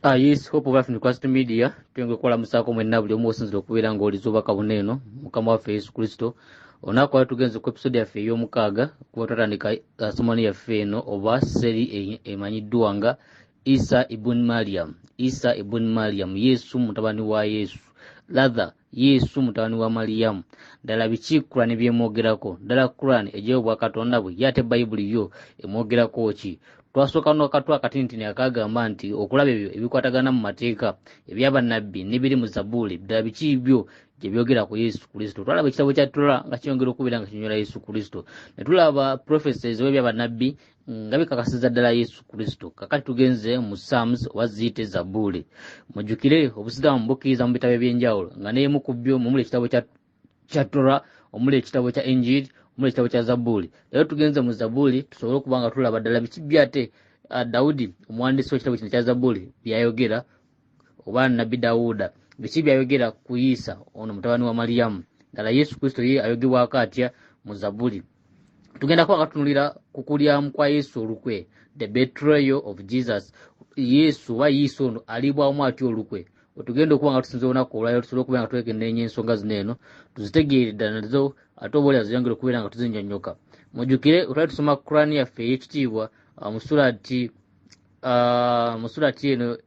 Ah, yes, hope of African Christ Media twenge kola musako mwenna buli omu osinzira okubeera ng'oliza obubaka buno eno mukama waffe yesu kristo olunaku lwali tugenze ku episode yaffe ey'omukaaga kuba twatandika ah, somani yaffe eno oba seri e-, emanyiddwa nga isa ibun mariam isa ibun mariam yesu mutabani wa yesu lather Yesu mutabani wa Maliyamu. Ddala biki Kurani byemwogerako? Ddala Kurani egyayo obwakatonda bwe ye ate Bayibuli yo emwogerako ki? Twasooka n'akatu akatinitini akaagamba nti okulaba ebyo ebikwatagana mu mateeka ebya bannabbi n'ebiri mu Zabuuli, ddala biki byo gye byogera ku Yesu Kristo. Twalaba ekitabo kya Tora nga kyongera okubeera nga kinyonyola Yesu Kristo. Ne tulaba prophecies oba ebya bannabbi nga bikakasiza ddala yesu kristo kakati tugenze mu sams oba ziyite zabuuli mujjukire obusiraamu bukkiriza mu bitabo ebyenjawulo nga neyemu ku byo mumuli ekitabo kya tora omuli ekitabo kya enjiri omuli ekitabo kya zabuuli era tugenze mu zabuuli tusobole okuba nga tulaba ddala biki byate ah, dawudi omuwandiisi w'ekitabo kino kya zabuuli byayogera oba nabbi dawuda biki byayogera ku yiisa ono mutabani wa maliyamu ddala yesu kristo ye ayogebwako atya mu zabuli tugenda kuba katunulira ku kulyamu kwa yesu olukwe the betrayal of jesus yesu oba yiisa ono alibwamu atya olukwe wetugenda okuba nga tusinza olunaku olwaliro tusobole okubeera nga twekenneenya ensonga zino eno tuzitegeere ddala nazo ate oba olya ziyongere okubeera nga tuzinyonyoka mujjukire otwali tusoma kurani yaffe ey'ekitiibwa mu surati uh, mu surati eno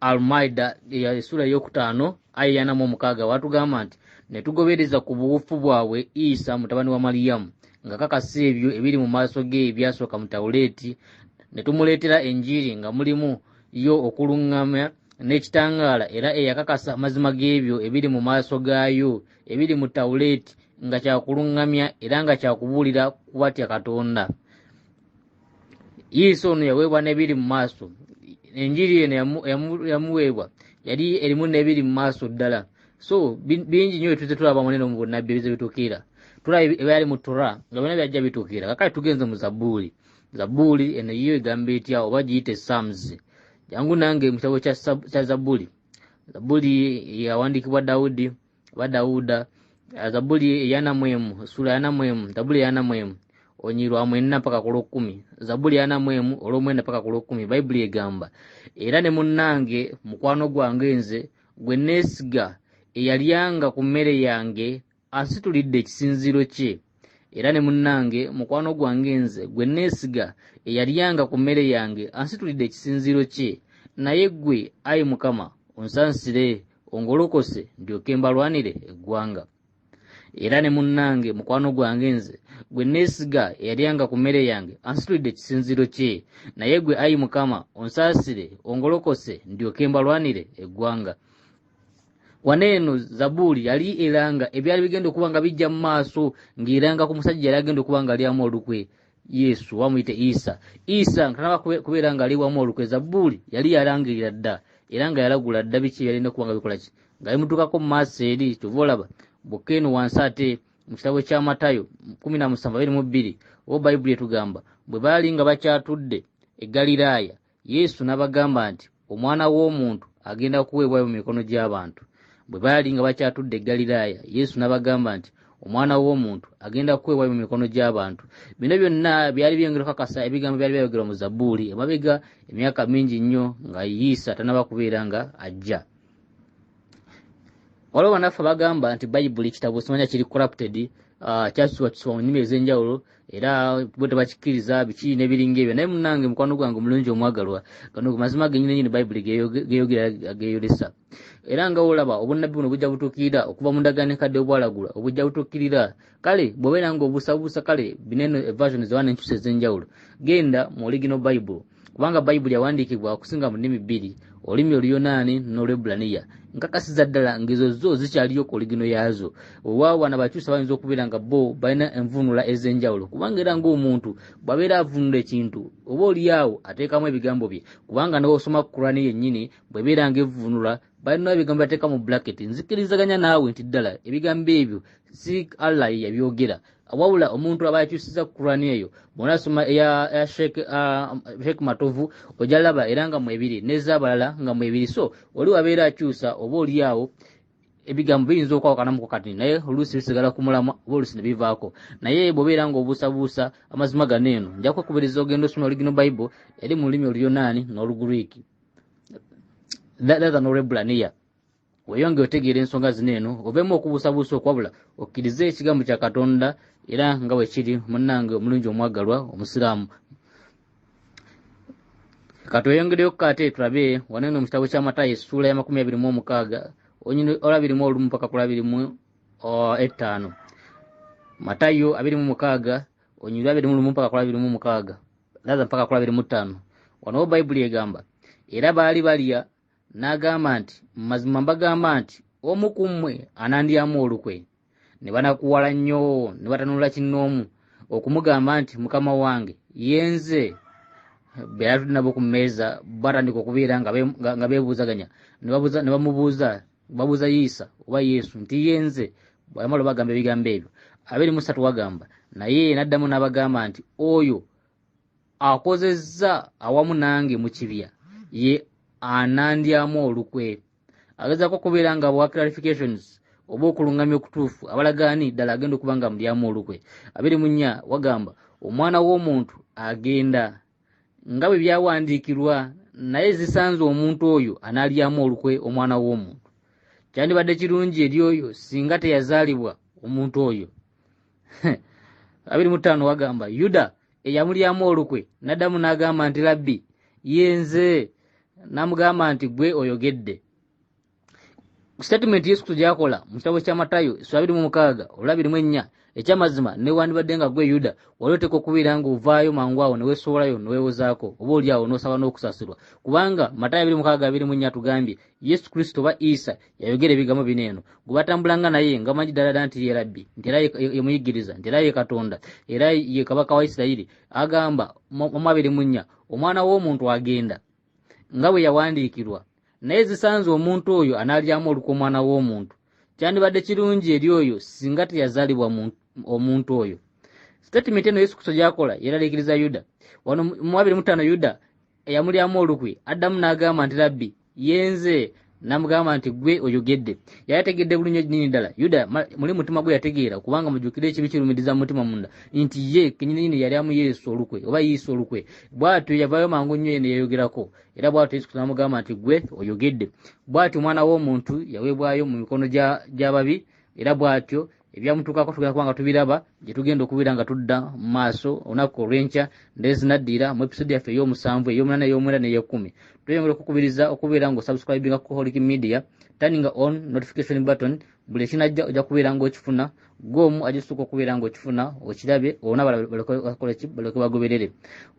almaida esura eyokutaano aya eyana mu omukaaga watugamba nti netugobereza ku buwufu bwabwe isa mutabani wa maliyamu nga kakasa ebyo ebiri mu maaso ge ebyasooka mu tawuleeti ne tumuleetera enjiri nga mulimu yo okuluŋŋama n'ekitangaala era eyakakasa amazima g'ebyo ebiri mu maaso gaayo ebiri mu tawuleeti nga kyakuluŋŋamya era nga kyakubuulira kubatya katonda yesu ono yaweebwa n'ebiri mu maaso enjiri eno yamuweebwa yali erimu n'ebiri mu maaso ddala so bingi nyo byetuze tulaba munene mu bunabbi ebize bitukiira tulaba ebyali mu tura nga byona byajja bitukiira kakale tugenze mu zabuuli zabuuli eno yiyo egamba etya oba giyite sams jangu nange mu kitabo kya zabuuli zabuuli yawandiikibwa dawudi oba dawuda zabuli eyana mwemu esula yana mwemu zabuli eyana mwemu onyi lwa mwena paka ku lwokumi zabuli yana mwemu olwomwena paka ku lwokumi bayibuli egamba era ne munnange mukwano gwange nze gwe neesiga eyalyanga ku mmere yange asitulidde ekisinziiro kye era ne munnange mukwano gwange nze gwe neesiga eyalyanga ku mmere yange ansitulidde ekisinziiro kye naye ggwe ayi mukama onsansire ongolokose ndyoke mbalwanire eggwanga era ne munnange mukwano gwange nze gwe neesiga eyalyanga ku mmere yange ansitulidde ekisinziiro kye naye gwe ayi mukama onsaasire ongolokose ndyoke mbalwanire eggwanga wano eno zabuuli yali eranga ebyali bigenda okuba nga bijja mu maaso ng'eranga ku musajja yali agenda okuba nga alyamu olukwe yesu oba muyite isa isa nga tanaba kubeera nga ali wamu olukwe zabuuli yali yalangirira dda era nga yalagula dda biki yalina okuba nga bikola ki nga bimutuukako mu maaso eri kyova olaba bwokka eno wansi ate mu kitabo kya matayo kumi na musanvu abiri mu bbiri oba bayibuli etugamba bwe baali nga bakyatudde egaliraaya Yesu n'abagamba nti, Omwana w'omuntu agenda kuweebwayo mu mikono gy'abantu. Bwe baali nga bakyatudde e Ggaliraaya, Yesu n'abagamba nti, Omwana w'omuntu agenda kuweebwayo mu mikono gy'abantu. Bino byonna byali byongera okukakasa ebigambo byali byayogerwa mu Zabbuli emabega emyaka mingi nnyo nga Yiisa tannaba kubeera nga ajja. waliwo banaffe bagamba nti bayibuli kitabo simanya kiri corrupted ah, kyakisibakisibwa mu nnimi ez'enjawulo era bo tebakikkiriza biki nebiringa ebyo naye munange mukwano gwange omulungi omwagalwa gano mazima genyini nyini bayibuli geyogera geyolesa era nga olaba obunnabbi buno bujja butuukirira okuva mu ndagaano enkadde obwalagula obujja butuukirira kale bwobeera nga obuusabuusa kale bineno evasion zewana enkyusa ez'enjawulo genda mu oligino bayibuli kubanga bayibuli yawandiikibwa okusinga mu nnimi bbiri olulimi oluyonaani n'olwebbulaniya nkakasiza ddala ngezo zo zikyaliyo ku oligino yaazo wewaawo wana bakyusa bayinza okubeera nga bo balina envuunula ez'enjawulo kubanga era ng'omuntu bw'abeera avuunula ekintu oba oliyaawo ateekamu ebigambo bye kubanga newosoma ku kurani yennyini bwebeera nga evvuunula balina ebigambo bateeka mu bracket nzikirizaganya naawe nti ddala ebigambo ebyo si allah yeyabyogera wabula omuntu aba yakyusiza kurani eyo bwonasoma eya sheikh uh, matovu ojalaba era nga mwebiri nezabalala nga mwebiri so oli wabeera akyusa oba olyawo ebigambo biyinza okwawukanamu kukati naye oluusi bisigala ku mulamwa oba oluusi ne bivaako naye bwobeera nga obuusabuusa amazima gano eno nja kwekubiriza ogenda osoma oligino bible eri mu lulimi oluyonaani n'oluguriiki lathan olwebulaniya weyonge otegeera ensonga zino eno obeemu okubuusabuusa okwabula okkirize ekigambo kya katonda era nga bwe kiri munnange omulungi omwagalwa omusiraamu katweyongereyo kukaate tulabe waneno mu kitabo kya matayi essuula ya makumi abiri mu omukaaga onyini olabiri mu olumu paka kulabiri mu ettaano matayo abiri mu mukaaga onyirwa abiri mu lumu paka kulabiri mu omukaaga laza mpaka kula biri mutano wano bayibuli egamba era baali balya n'agamba nti mazima mbagamba nti omu ku mmwe anandyamu olukwe ne banakuwala nnyo ne batanula kinnoomu okumugamba nti mukama wange yenze beyatudde nabo ku mmeeza batandika okubeera nga beebuuzaganya ne bamubuuza babuuza yiisa oba yesu nti yenze bwayamala obagamba ebigambo ebyo abiri musatu wagamba naye naddamu n'abagamba nti oyo akozezza awamu nange mu kibya ye anandyamu olukwe agezaako okubeera nga bwa clarifications oba okulungamya okutuufu abalagaani ddala agenda okuba nga mulyamu olukwe abiri munya wagamba omwana w'omuntu agenda nga bwe byawandiikirwa naye zisanze omuntu oyo anaalyamu olukwe omwana w'omuntu kyandibadde kirungi eri oyo singa teyazaalibwa omuntu oyo abiri mu ttaano wagamba yuda eyamulyamu olukwe naddamu n'agamba nti labbi yenze n'amugamba nti gwe oyogedde Sitatimenti Yesu Kristo gyakola mu kitabo kya Matayo essula abiri mu mukaaga olwabiri mu ennya ekyamazima newandibadde nga gwe Yuda wali oteekwa okubeera ng'ovaayo mangu awo ne weesowolayo ne weewozaako oba oli awo n'osaba n'okusasirwa kubanga Matayo abiri mukaaga abiri mu nnya atugambye Yesu Kristo oba Isa yayogera ebigambo bino eno gwe batambulanga naye nga manyi ddala ddala nti ye Rabbi nti era ye muyigiriza nti era ye Katonda era ye Kabaka wa Isirayiri agamba mu abiri mu nnya omwana w'omuntu agenda nga bwe yawandiikirwa naye zisanze omuntu oyo anaalyamu olukwa omwana w'omuntu kyandibadde kirungi eri oyo singa teyazaalibwa omuntu oyo sitatimenti eno yesu kristo gyakola yeraliikiriza yuda wano mu abiri mutaano yuda eyamulyamu olukwi addamu n'agamba nti labbi yenze namugamba nti gwe oyogedde yali ategedde bulunyo nini ddala yuda muli mutima gwe yategeera kubanga mujukire ekibi kirumiriza mumutima munda nti ye kenyininyini yali amu yesu olukwe oba yesu olukwe bwatyo yavayo mangu nnyo eno yayogerako era bwatyo yesu namugamba nti gwe oyogedde bwatyo omwana w'omuntu yaweebwayo mu mikono gy'ababi era bwatyo ebyamutuukako tugenda kuba nga tubiraba gye tugenda okubeera nga tudda mu maaso olunaku olw'enkya ndee zinaddiira mu episode yaffe ey'omusanvu ey'omunana ey'omwenda n'ey'ekkumi tweyongera okukubiriza okubeera nga osubscribinga ku holic media turning on notification button buli ekinajja ojja kubeera nga okifuna gwomu ajisuka okubeera nga okifuna okirabe olona baleke bagoberere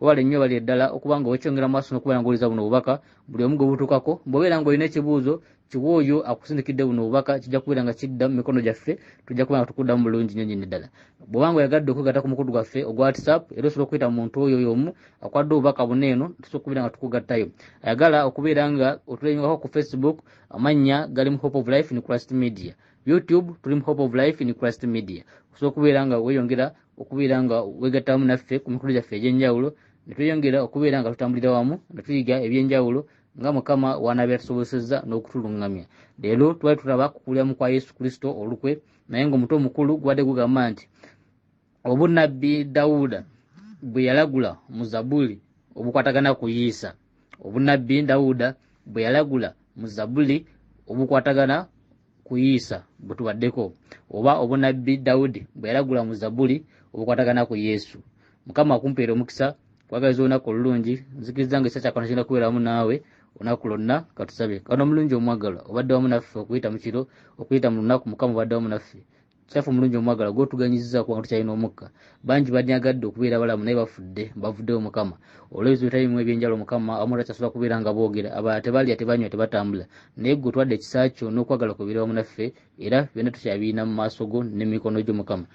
webale nnyo bali eddala okuba nga wekyongera maaso nokubeera nga oliza buno obubaka buli omu gwe butuukako bwobeera nga olina ekibuuzo kiwa oyo akusindikidde buno obubaka kijja kubeera nga kidda mu mikono gyaffe tujja kuba nga tukuddamu bulungi nyo nyini ddala bwoba nga oyagadde okwegata ku mukutu gwaffe ogwa whatsapp era osobola okuyita mu muntu oyo yomu akwadde obubaka buno eno tusobola okubeera nga tukugattayo ayagala okubeera nga otulengako ku facebook amannya gali mu hope of life in christ media youtube tuli mu hope of life in christ media osobola okubeera nga weyongera okubeera nga wegattamu naffe ku mikulu gyaffe egy'enjawulo ne tweyongera okubeera nga tutambulira wamu ne tuyiga eby'enjawulo nga mukama wanaaba yatusobozesezza n'okutuluŋŋamya leero twali tulaba kukuliramu kwa yesu kristo olukwe naye ng'omuto omukulu gubadde gugamba nti obunnabbi dawuda bwe yalagula mu zabuli obukwatagana ku yiisa obunnabbi dawuda bwe yalagula mu zabuli obukwatagana ku Isa bwe tubaddeko oba obunabbi Dawudi bwe yalagula mu Zabuli obukwatagana ku Yesu. Mukama akumpeera omukisa kwagaliza olunaku olulungi nzikiriza nga ekisa kyakona kigenda kubeera wamu naawe olunaku lwonna katusabe kano omulungi omwagalwa obadde wamu naffe okuyita mu kiro okuyita mu lunaku mukama obadde wamu naffe Kyaffe omulungi omwagala gw'otuganyizizaako nga tukyalina omukka. Bangi banyagadde okubeera abalamu naye bafudde, bavuddewo Mukama. Olw'ebizibu ebitali bimu eby'enjalo Mukama abamu takyasobola kubeera nga boogera, abalala tebalya, tebanywa, tebatambula. Naye ggwe otwadde ekisa kyo n'okwagala kwo bibeere wamu naffe era byonna tukyabirina mu maaso go ne mu mikono gyo Mukama.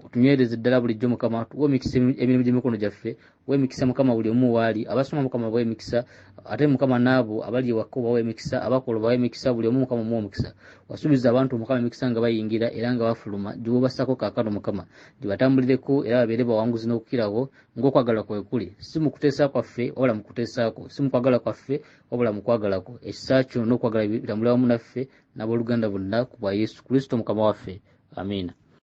Otunywereze ddala bulijjo Mukama, tuwe omikisa emirimu gy'emikono gyaffe wemikisa mukama buli omu waali abasoma mukama bawemikisa ate mukama naabo abali ewakka obawemikisa abakola obawemikisa buli omu mukama omuwa omukisa wasuubiza abantu mukama emikisa nga bayingira era nga bafuluma giwobasako kakano mukama gibatambulireko era babeere bawanguzi n'okukirawo ng'okwagala kwe kuli si mu kuteesa kwaffe wabula mu kuteesaako si mu kwagala kwaffe wabula mu kwagalako ekisa kyo n'okwagala birambula wamu naffe n'abooluganda bonna ku bwa yesu kristo mukama waffe amiina